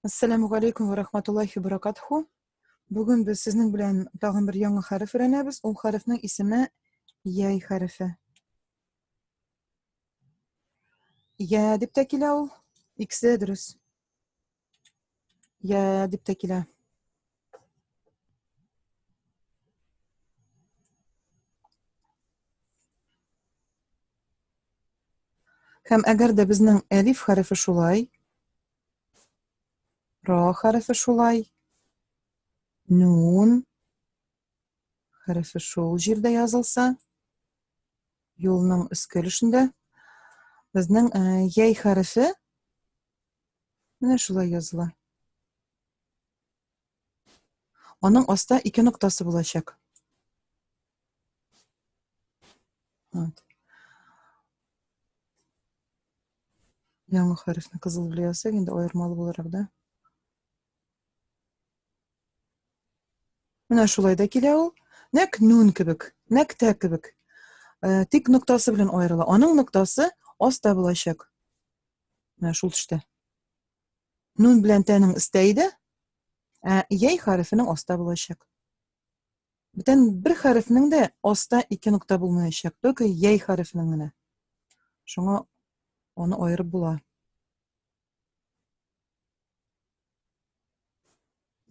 Ассаламу алейкум ва рахматуллахи баракатху. Бүген без сезнең белән тагын бер яңа хәреф өйрәнәбез. Ул хәрефнең исеме яй хәрефе. Я дип тә килә ул. Икесе дөрес. Я дип тә килә. Һәм әгәр дә безнең әлиф хәрефе шулай, ра хәрефе шулай, нун хәрефе шул җирдә язылса, юлның өске өлешендә безнең э, яй хәрефе менә шулай языла. Аның аста ике ноктасы булачак. Вот. Яңа хәрефне кызыл белән язсак, инде аермалы буларак да. Менә шулай да килә ул. Нәк нун кебек, нәк тә кебек. Э, тик ноктасы белән аерыла. Аның ноктасы аста булачак. Менә шул төштә. Нун белән тәнең өстә иде, ә яй хәрефенең аста булачак. Бүтән бер хәрефнең дә аста ике нокта булмаячак, только яй хәрефенең генә. Шуңа аны аерып була.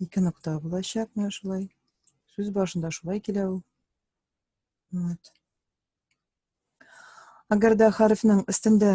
Ике нокта булачак менә шулай. Сүз башында шулай килә ул. Вот. Әгәр дә хәрефнең өстендә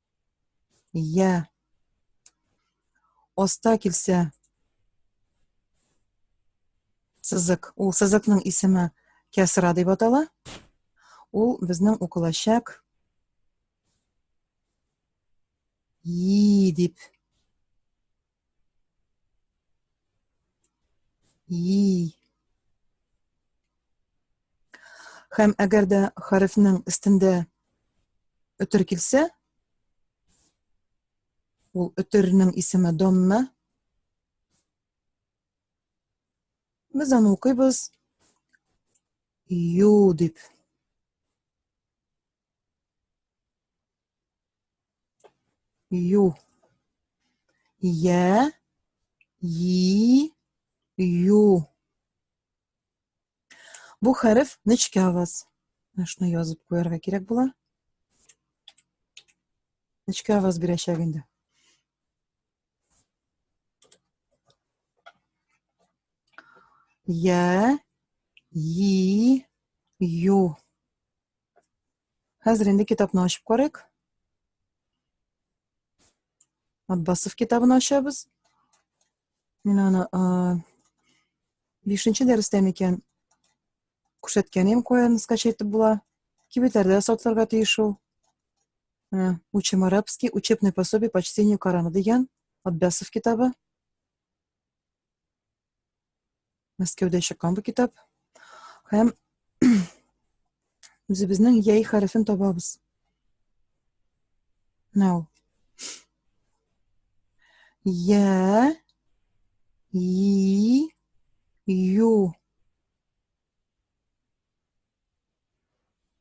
Йә. Аста килсә. Сызык. Ул сызыкның исеме кәсра дип атала. Ул безнең укылачак и дип Йи. Хәм әгәр дә хәрефнең өстендә өтер килсә, ул өтернең исеме домма. Без аны укыйбыз ю дип. Ю. Е. И. Ю. Бу хәреф нечкә аваз. Менә шуны язып куярга кирәк була. Нечкә аваз бирәчәк инде. Я, и, ю. Хәзер инде китапны ачып карыйк. Аббасов китабын ачабыз. Мин аны 5-нче дәрестә микән күрсәткән идем, каян скачать итеп була. Кибетләрдә сатларга тиеш ул. Менә Учим арабский, учебный пособие по чтению Корана дигән Аббасов китабы. Мәскәүдә чыккан бу китап. Һәм үзебезнең яй хәрефен табабыз. Now. Я, и, ю.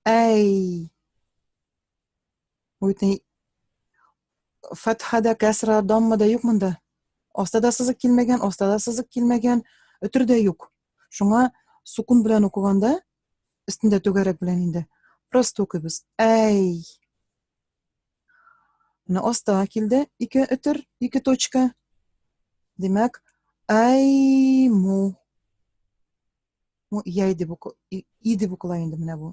Әй. Бу бит ни фәтха да, кәсра, дамма да юк монда. Аста да сызык килмәгән, аста да сызык килмәгән, өтер дә юк. Шуңа сукун белән укыганда, өстендә түгәрәк белән инде, просто укыйбыз. Әй! Менә аста килде ике өтер, ике точка. Димәк, әй му. Му яй дип укы, и дип укыла инде менә бу.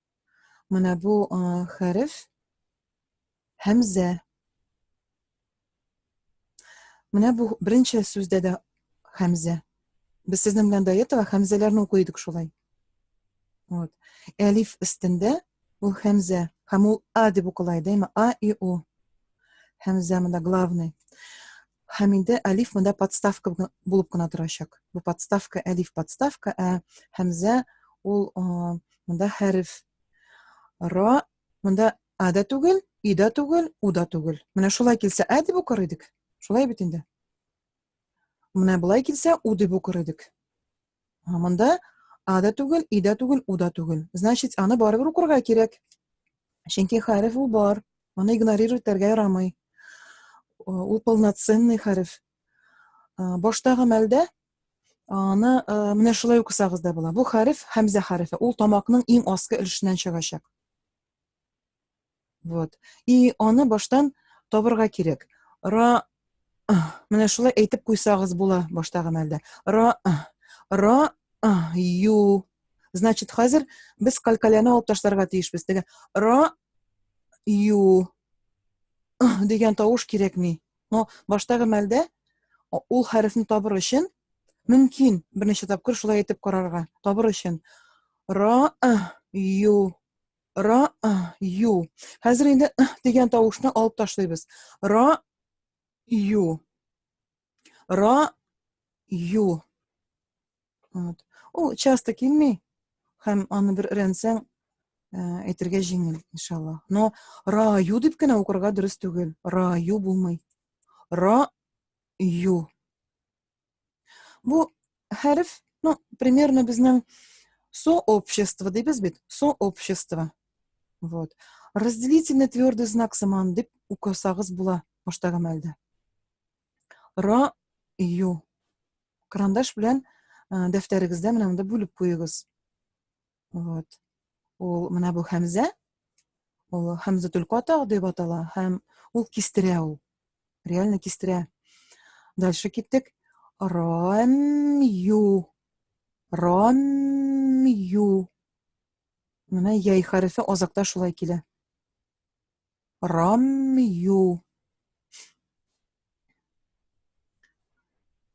Менә бу хәреф һәмзә. Менә бу беренче сүздә дә хәмзә. Без сезнең белән до этого хәмзәләрне укый идек шулай. Вот. Әлиф өстендә ул хәмзә. Һәм ул а дип укыла иде, әмма а и у. Хәмзә монда главный. Һәм инде Әлиф монда подставка булып кына торачак. Бу подставка, Әлиф подставка, ә Хәмзә ул монда хәреф. Ра монда а да түгел, и да түгел, у да түгел. Менә шулай килсә ә дип укыр идек. Шулай бит инде. Менә болай килсә у дип укыр идек. Монда а да түгел, и да түгел, у да түгел. Значит, аны барыбер укырга кирәк. Чөнки хәреф ул бар. Моны игнорировать итәргә ярамый. Ул полноценный хәреф. Баштагы мәлдә аны менә шулай укысагыз да була. Бу хәреф хәмзә хәрефе. Ул тамакның иң аскы өлешеннән чыгачак. Вот. И аны баштан табырга кирәк. Ра Менә шулай әйтеп куйсагыз була башта гына әлдә. Ра ра ю. Значит, хәзер без калькаляны алып ташларга тиешбез. Теге ра ю дигән тавыш кирәкми. Но баштагы мәлдә ул хәрефне табыр өчен мөмкин берничә тапкыр шулай әйтеп карарга. Табыр өчен ра ю Ра, ю. Хәзер инде дигән тавышны алып ташлыйбыз. Ра, ю. Ра, ю. Вот. Ул часто килми. Хәм аны бер рәнсәң әйтергә э, җиңел, иншалла. Но ра, ю дип кенә укырга дөрес түгел. Ра, ю булмый. Ра, ю. Бу хәреф, ну, примерно безнең сообщество дибез бит, сообщество. Вот. Разделительный твердый знак сыман дип укысагыз була башта гамәлдә. Ра ю. Карандаш белән дәфтәрегездә менә монда бүлеп куегыз. Вот. Ул менә бу Хәмзә. Ул Хәмзә Түлкатау дип атала һәм ул кистерә ул. Реально кистерә. Дальше киттек. Рамю. Рамю. Менә яй хәрефе азакта шулай килә. Рамью.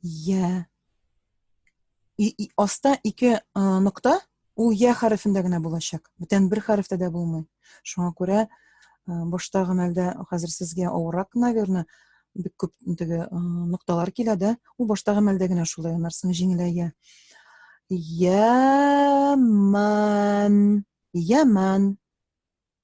Я. И, и, аста ике а, нокта, ул я хәрефендә генә булачак. Бүтән бер хәрефтә дә булмый. Шуңа күрә а, башта гамәлдә хәзер сезгә авырак, наверное, бик күп теге а, нокталар килә дә, ул башта гамәлдә генә шулай анарсың җиңеләя. Яман. Яман.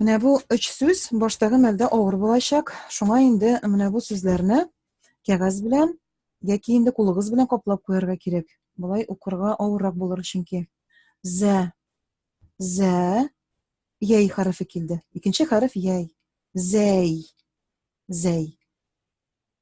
Менә бу өч сүз баштагы мәлдә авыр булачак. Шуңа инде менә бу сүзләрне кәгазь белән яки инде кулыгыз белән каплап куярга кирәк. Болай укырга авыррак булыр чөнки. Зә. Зә. Яй хәрефе килде. Икенче хәреф яй. Зәй. Зәй.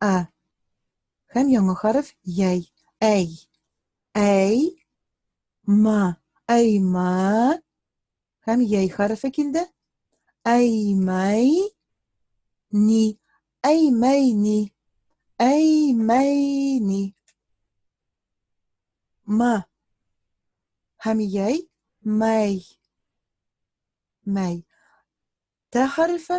А. Һәм яңа хәреф яй. Әй. Әй. Ма. Әй ма. Һәм яй хәрефе килде. Әй мәй. Ни. Әй мәй ни. Әй мәй ни. Ма. Һәм яй мәй. Мәй. Тә хәрефе.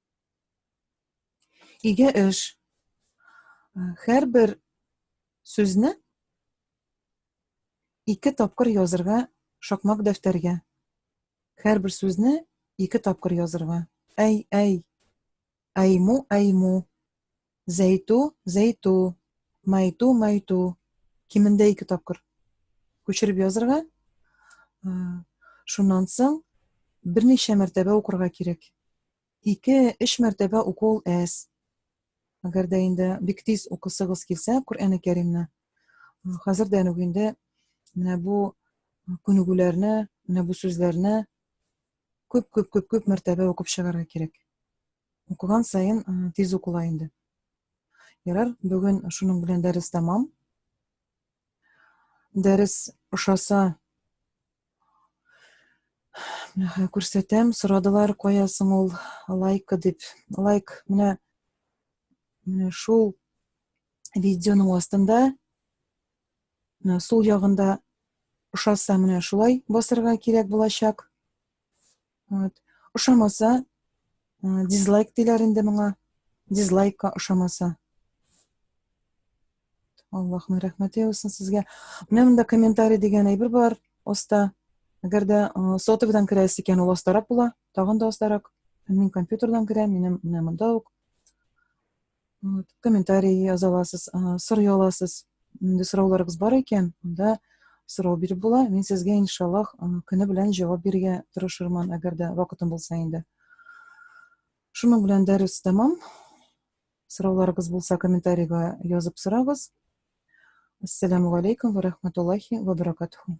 Иге эш. Һәрбер сүзне ике тапкыр язырга шакмак дәфтәргә. Һәрбер сүзне ике тапкыр язырга. Әй, әй. Айму, айму. Зәйту, зәйту, майту, майту. Кимендә ике тапкыр күчереп язырга. Шуннан соң берничә мәртәбә укырга кирәк. Ике, өч мәртәбә уку ул әз. Әгәр дә инде бик тиз укысыгыз килсә, Коръәне Кәримне, хәзер дә үк инде менә бу күнегүләрне, менә бу сүзләрне күп-күп-күп-күп мәртәбә укып чыгарга кирәк. укыган саен э, тиз укыла инде ярар бүген шуның белән дәрес тәмам дәрес ошаса менә күрсәтәм сорадылар кая соң ул лайкы дип лайк менә менә шул видеоның астында сул ягында ошаса менә шулай басырга кирәк булачак Вот. Ошамаса, э, дизлайк диләр инде моңа. Дизлайкка ошамаса. Аллаһның рәхмәте яусын сезгә. Менә монда комментарий дигән әйбер бар. Оста. Әгәр дә э, сотовыйдан керәсе икән, ул остарак була. Тагын да остарак. Мин компьютердан керәм, минем менә монда ук. вот, комментарий яза аласыз сорый аласыз мындай сорауларыгыз бар икән анда сорау биреп була мин сезгә иншаллах көне белән җавап бирергә тырышырмын әгәр дә вакытым булса инде шуның белән дәрес тәмам сорауларыгыз булса комментарийга язып сорагыз ассаламу алейкум ва рахматуллахи ва баракатуху